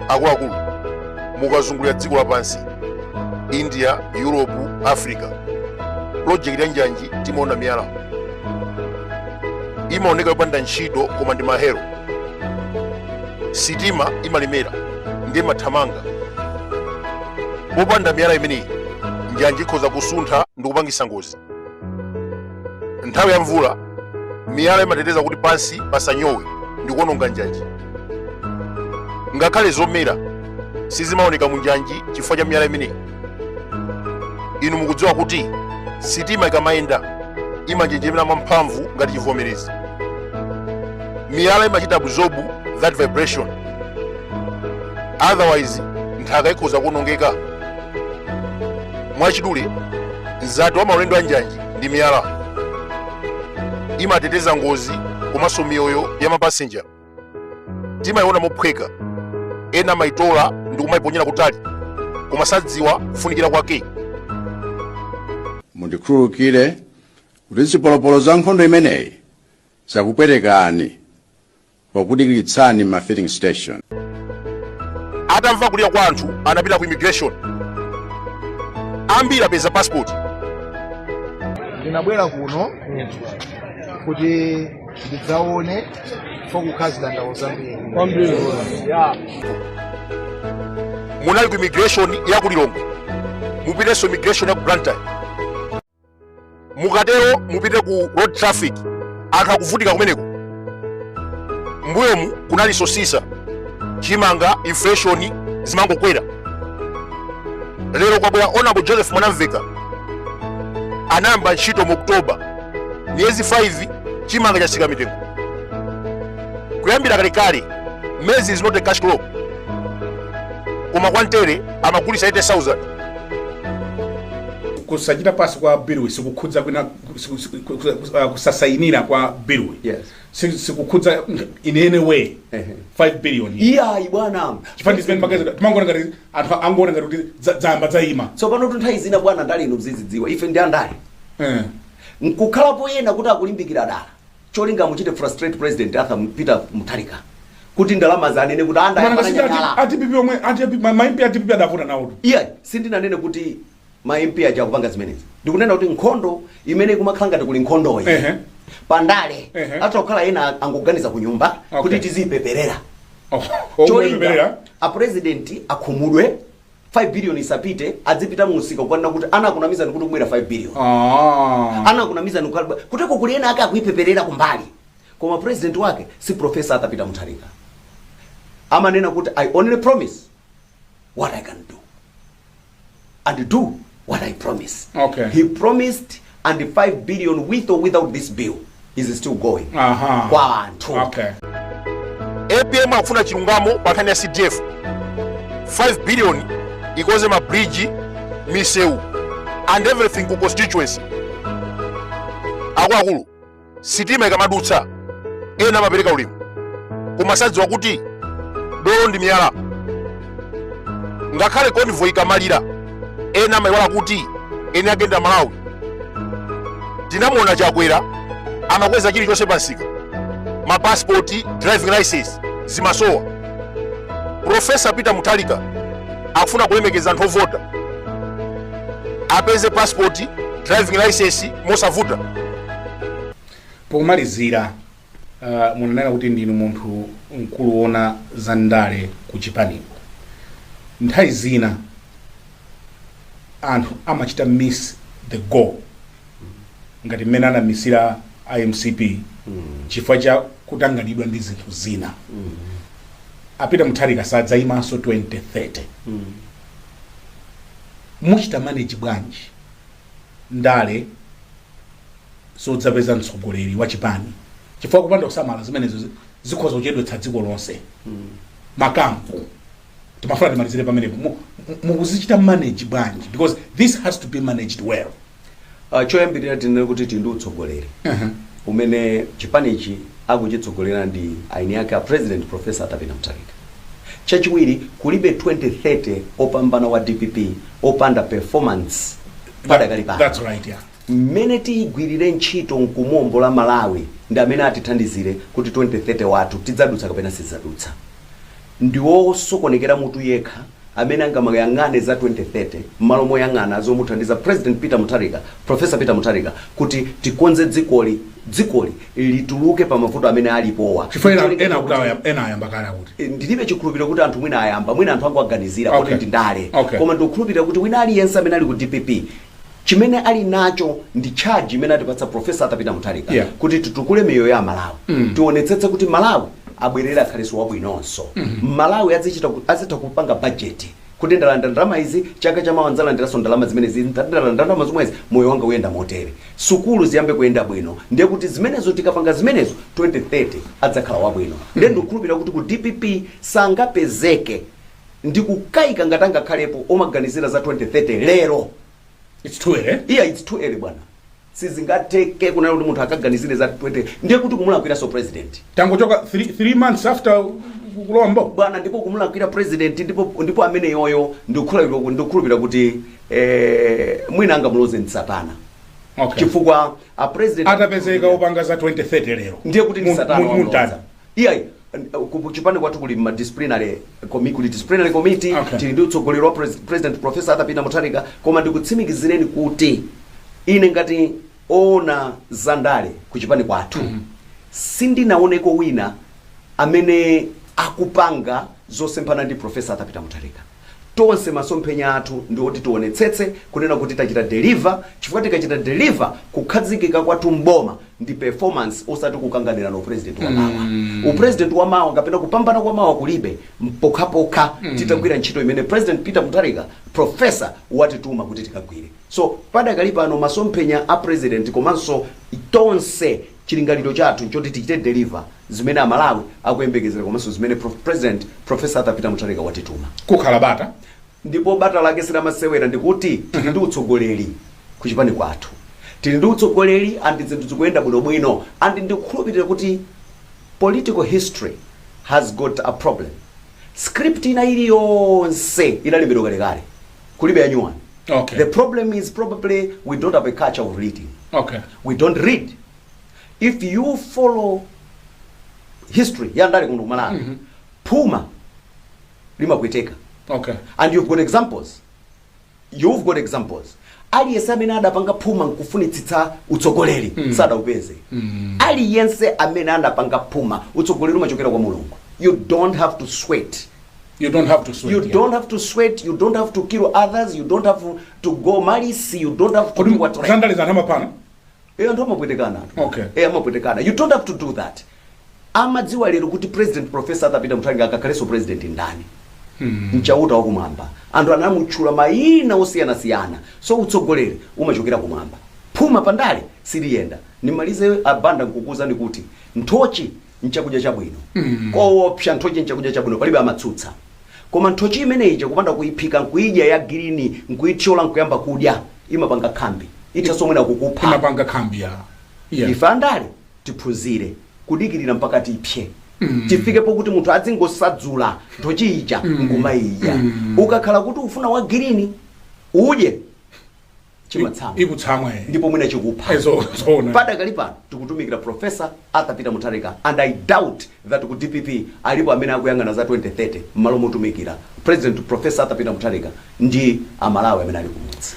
akuluakulu mukazungulira dziko lapansi india europe africa pulojekiti ya njanji timaona miyala imaoneka yopanda ntchito koma ndi mahero sitima imalemera ndiye imathamanga popanda miyala imeneyi njanji ikhoza kusuntha ndi kupangisa ngozi nthawi ya mvula miyala imateteza kuti pansi pasanyowe ndi kuononga njanji ngakhale zomera sizimaoneka mu njanji chifukwa cha miyala imeneyi inu mukudziwa kuti sitima ikamayenda imanjenjemera mwamphamvu ngati chivomerezi miyala imachita absorb that vibration otherwise nthaka ikhoza kuonongeka mwachidule mzati wa maulendo a njanji ndi miyala imateteza ngozi komanso miyoyo ya mapasenja timayiona mophweka ena amayitola ndi kumayiponyera kutali koma sadziwa kufunikira kwake mundikhululukire kuti zipolopolo za nkhondo imeneyi zakupwetekani pokudikiritsani m'ma filling station. Atamva kulira kwa anthu anapita ku immigration. Ambiri apeza passport. Ndinabwera kuno kuti ndidzaone chifukwa kukhala zidandaulo zambiri. Munali ku immigration ya ku Lilongwe. Mupitenso immigration ya ku Blantyre. mukatero mupite ku road traffic anthu akuvutika kumeneko mbuyomu kunali sosisa chimanga inflation zimangokwera lero kwabwera honorable joseph mwanamveka anayamba ntchito mu oktoba miyezi 5 chimanga chatsika mitengo kuyambira kalekale maize is not a cash crop koma kwa ntele amagulitsa 80000 kusachita pass kwa biluyi sikukhudza kwina siku- siku- ku- ku- ah, kusasayinira kwa biluyi Yes. Si- sikukhudza in any way Ehe. 5 billion iyi. iyayi bwana chifukwa ndi zimene magazeti timangoona ngati anthu angoona ngati kuti za- zayamba zayima tsopano tunthawi zina bwana ndale inu muzizidziwa ife ndi andale Eh. nkukhalapo ena kuti akulimbikira dala Cholinga amuchite frustrate president Arthur M- Peter Mutharika kuti ndalama zija anene kuti anda Mwana ngasipi ati- yanyanyala. a DPP omwe a DPP- ma- ma MP a DPP adavuta nawo tu. Iya, sindinanene kuti ma MP aja akupanga zimenezi. Ndikunena kuti nkhondo imene ikumakhala ngati kuli nkhondoyi. Ehe. Pandale Ehe. atha kukhala ena angoganiza ku nyumba Okay. kuti tizipeperera. Oh, omwe Cholinga pepera. a president akhumudwe 5 billion isapite idzipita mu msika kukanena kuti anakunamizani kuti kukubwera 5 billion Ah. anakunamizani kulibe kuteko kuli ena ake akuipeperera kumbali koma president wake si professor arthur peter mutharika amanena kuti i only promise what i can do and do what i promise Okay. he promised and 5 billion with or without this bill is still going Aha. kwa anthu Okay. apm akufuna chilungamo pa nkhani ya cdf 5 billion ikonze ma bridge misewu and everything ku constituency akuluakulu sitima ikamadutsa ena amapereka ulemu koma sadziwa kuti dolo ndi miyala ngakhale convoy ikamalira ena amayiwala kuti eni ake ndi amalawi tinamuona chakwera amakweza chilichonse pansika mapasipoti driving license zimasowa profesa peter mutharika akufuna kulemekeza anthu ovota apeze pasipoti driving license mosavuta pomalizira uh, munanena kuti ndinu munthu mkulu woona za ndale ku chipaniko nthawi zina anthu amachita miss the goal ngati mmene anamisira a mcp chifukwa cha kutanganidwa ndi zinthu zina a peter mutharika sadzayimanso 2030 muchita manage bwanji ndale zodzapeza mtsogoleri wa chipani chifukwa kupanda kusamala zimenezo zi- zikhoza kuchedwetsa dziko lonse makampu timafuna timalizire pamenepo Mu- mu- mukuzichita manage bwanji because this has to be managed well Ah, choyambirira tinene kuti tili ndi utsogoleri umene chipanichi akuchitsogolera ndi eni ake a president professor arthur peter mutharika Chachiwiri kulibe 2030 opambana wa dpp opanda performance padakali pano. That's right, yeah. mmene tiyigwirire ntchito nkumuombola malawi ndi amene atithandizire kuti 2030 wathu tidzadutsa kapena sitidzadutsa ndiwosokonekera mutu yekha amene angamayang'ane za 2030 mmalo moyang'ana zomuthandiza president Peter Mutharika, Professor Peter Mutharika, kuti tikonze dzikoli, dzikoli lituluke pa mavuto amene alipowa Chifukwa ena, Cholinga ena akuti chakuti- awayamba- ena ayamba kale akuti. Eh, ndilibe chikhulupiriro kuti anthu mwina ayamba mwina anthu angoganizira Okay. kuti ndi ndale Okay. koma ndikukhulupirira kuti wina aliyense amene ali ku dpp chimene ali nacho ndi charge imene atipatsa profesa arthur peter mutharika yeah. kuti titukule miyoyo ya amalawi mm. tionetsetse kuti malawi abwerere akhalenso wabwinonso mm -hmm. malawi azitha kupanga bajeti kuti ndalandira ndalama izi chaka chamawa ndzalandiranso ndalama zimenezi ndalandira ndalama zomwezi moyo wanga uyenda motere sukulu ziyambe kuyenda bwino ndiye kuti zimenezo tikapanga zimenezo 2030 adzakhala wabwino ndiye mm. ndikukhulupirira kuti ku dpp sangapezeke Ndikukaika ngati angakhalepo omaganizira za 2030 lero. It's too early. Iya it's too early bwana. Sizingatheke kunena kuti munthu akaganizire za 20 ndiye kuti kumulakwiranso president. Tangochoka 3 3 months after kulowa m'boma. Bwana ndipo kumulakwira president ndipo ndipo amene yoyo ndikukhulupirira ndikukhulupirira kuti eh mwina angamuloze ndi Satana. Okay. Chifukwa a president Atapezeka opanga za 2030 lero. Ndiye kuti ndi Satana wamuloza. Iyayi, ku chipani kwathu kuli ma disciplinary committee, kuli disciplinary committee, Okay. tili ndi utsogoleri wa pres- president professor Arthur Peter Mutharika, koma ndikutsimikizireni kuti ine ngati oona za ndale ku chipani kwathu sindinaoneko wina amene akupanga zosemphana ndi professor Arthur Peter Mutharika. Tonse masomphenya athu ndi oti tionetsetse kunena kuti tachita deliver chifukwa tikachita deliver kukhazikika kwathu m'boma ndi performance osati kukanganirana upresident wa mawa. Upresident wa mawa kapena kupambana kwa mawa kulibe pokhapokha titagwira ntchito imene President Peter Mutharika Professor watituma kuti tikagwire. So padakali pano masomphenya a President komanso tonse Chilingaliro chathu nchoti tichite deliver zimene a Malawi akuyembekezera komanso zimene President Professor Arthur Peter Mutharika watituma. Kukhala bata ndipo bata lake si lamasewera ndikuti tili ndi utsogoleri ku chipani kwathu. Tili ndi utsogoleri and zinthu zikuyenda bwino bwino and ndikukhulupirira kuti political history has got a problem. Script ina iliyonse inalembedwa kalekale. kulibe yanyuwani Okay. the problem is probably we don't have a culture of reading Okay. we don't read if you follow history ya ndale kuno ku Malawi Mhm. phuma limakweteka Okay. and you've got examples you've got examples aliyense amene adapanga phuma nkufunitsitsa utsogoleri Mm. sadaupeze Mm. aliyense amene anapanga phuma utsogoleri umachokera kwa Mulungu you don't have to sweat You don't have to sweat. You yeah. don't have to sweat, you don't have to kill others, you don't have to go malice, you don't have to do what you want. Zandalizana mapana. Eh, ndo mapwetekana. Okay. Eh, mapwetekana. You don't have to do that. Amadziwa lero kuti President Professor Arthur Peter Mutharika akakhalenso president ndani. Hmm. N'Chauta wa kumwamba. Anthu anamutchula mayina osiyanasiyana. So utsogoleri umachokera kumwamba. Phuma pandale siliyenera. Nimalize a Banda nkukuuzani kuti nthochi nchakudya chabwino mm. kowopsa nthochi nchakudya chabwino palibe amatsutsa koma nthochi imene ija kupanda kuyiphika nkuyidya ya green nkuyithyola nkuyamba kudya imapanga khambi ithanso mwina kukupha imapanga khambi yeah. ife andale tiphunzire kudikirira mpaka tipse mm. tifike pokuti munthu adzingosadzula nthochi ija mm. nkumayidya mm. ukakhala kuti ufuna wa green udye chimatsamwa chikutsamwa eh. ndipo mwina chikupha Eh, zo- zoona. padakali pano tikutumikira profesa Arthur Peter Mutharika and i doubt that ku dpp alipo amene akuyang'ana za 2030 m'malo motumikira president profesa Arthur Peter Mutharika ndi amalawi amene ali kumudzi